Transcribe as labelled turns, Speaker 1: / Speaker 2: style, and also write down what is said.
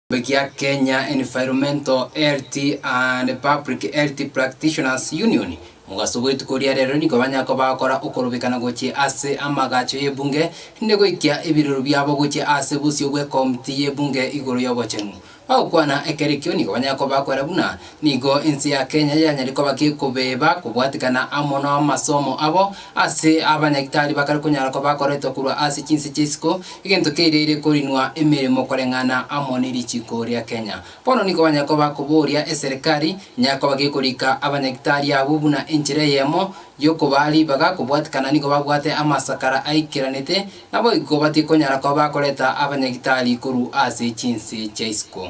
Speaker 1: Ekeombe kia Kenya Environmental Health and Public Health Practitioners Union, Mogaso bw'etuko ria rero nigo banya kobakora okorobekana gochia ase amagacho y'ebunge inde goikia ebirero biabo gochia ase bosio bw'ekomti y'ebunge igoro y'obochenu. Bagokwana ekerekio nigo banya kobakwera buna Nigo ense ya Kenya yanyaire koba gekobeba kobwatikana amo namasomo abo ase abanyagitari bakare konyara koba bakoretwa korwa ase chinse chi'isiko, egento keireire korinwa emeremo koreng'ana amo ne richiko ria Kenya. Bono nigo banyare koba bakoboria eserekari enyare koba gekorika abanyagitari abwo buna enchera eyemo yokobaa ribaga kobwatikana nigo babwate amasakara aikeranete, naboigo batikonyara koba bakoreta abanyagitari korwa ase chinse chi'isiko.